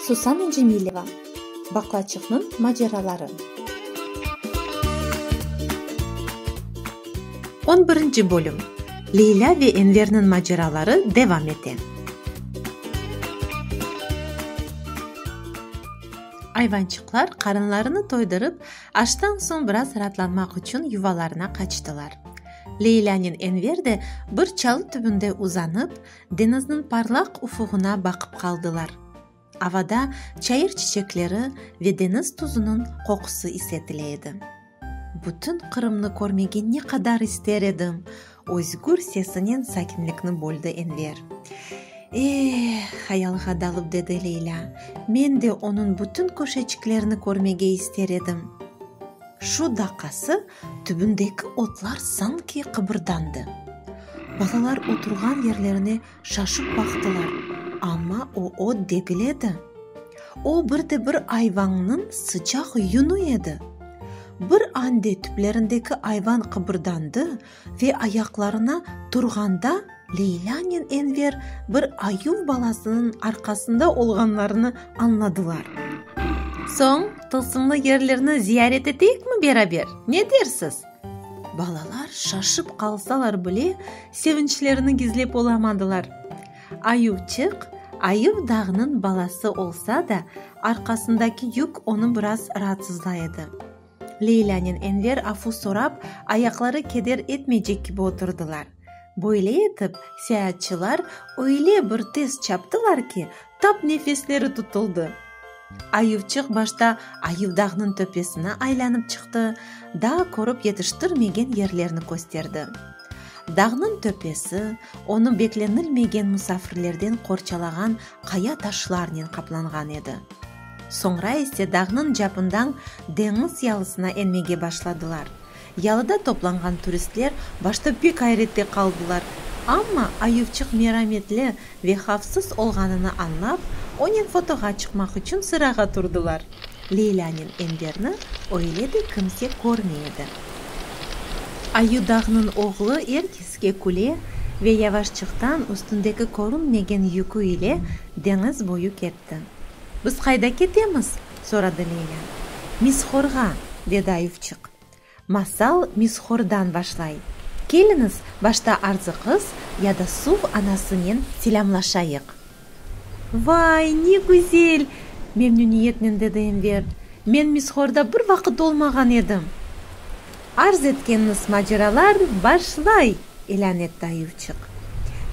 Susana Cemileva, Baqlaçıqnıñ maceraları. On birinci bölüm, Leylâ ve Enverniñ maceraları devam ete. Ayvançıqlar qarınlarını toydırıp, aştan soñ biraz raatlanmaq içün yuvalarına qaçtılar. Leylânen Enver de bir çalı tübünde uzanıp, deñizniñ parlaq ufuğına baqıp qaldılar. Avada çayır çiçekleri ve deñiz tuzunıñ qoqusı isetile edi. Bütün Qırımnı körmege ne qadar ister edim! özgür sesinen sakinlikni böldi Enver. Eeh! hayalğa dalıp dedi Leylâ. Men de onıñ bütün köşeçiklerini körmege ister edim. Şu daqası Tübündeki otlar sanki qıbırdandı. Balalar oturğan yerlerine şaşıp baqtılar, amma o ot degil edi. O, bir de bir ayvanıñ sıcaq yunü edi. Bir ande tüplerindeki ayvan qıbırdandı ve ayaqlarına turğanda, Leylânen Enver bir ayuv balasınıñ arqasında olğanlarını añladılar. Soñ tılsımlı yerlerni ziyaret eteyikmi beraber, ne dersiz? Balalar şaşıp qalsalar bile, sevinçlerini gizlep olamadılar. Ayuvçıq, ayuv dağnıñ balası olsa da, arqasındaki yük onı biraz raatsızlay edi. Leylânen Enver afu sorap, ayaqları keder etmeycek kibi oturdılar. Böyle etip, seyaatçılar öyle bir tez çaptılar ki, tap nefesleri tutuldı. Ayuvçıq başta Ayuvdağnıñ töpesine aylanıp çıqtı, daa körip yetiştirmegen yerlerni kösterdi. Dağnıñ töpesi, onı beklenilmegen musafirlerden qorçalağan qaya-taşlarnen qaplanğan edi. Soñra ise dağnıñ capından deñiz yalısına enmege başladılar. Yalıda toplanğan turistler başta pek ayrette qaldılar, amma ayuvçıq merametli ve havfsız olğanını añlap, onen fotoğa çıqmaq içün sırağa turdılar. Leylânen Enverni öyle de kimse körmey edi. Ayu dağnıñ oğlu er keske küle ve yavaşçıqtan üstündeki körünmegen yükü ile deñiz boyu ketti. etti. Biz qayda ketemiz? soradı Lenya. Mishorğa, dedi Ayufçıq. Masal Mishordan başlay. Keliñiz, başta Arzı qız ya da Suv anasınen selâmlaşayıq. Vay, ne güzel! memnüniyetnen dedi Enver. Men Mishorda bir vaqıt olmağan edim. Arz etkeniniz maceralarnı başlay! ilân etti ayuvçıq.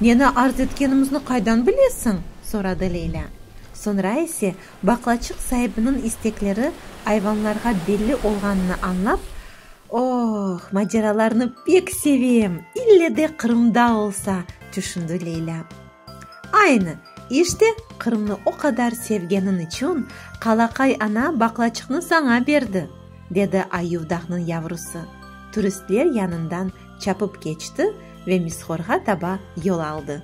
Neni arz etkenimizni qaydan bilesiñ? soradı Leylâ. Soñra ise, baqlaçıq saibiniñ istekleri ayvanlarğa belli olğanını añlap, Oh, maceralarnı pek sevem, ille de Qırımda olsa! tüşündi Leylâ. Aynı! İşte, Qırımnı o qadar sevgeniñ içün, qalaqay ana baqlaçıqnı saña berdi! dedi Ayuvdahnıñ yavrusı, turistler yanından çapıp keçti ve Misxorğa taba yol aldı.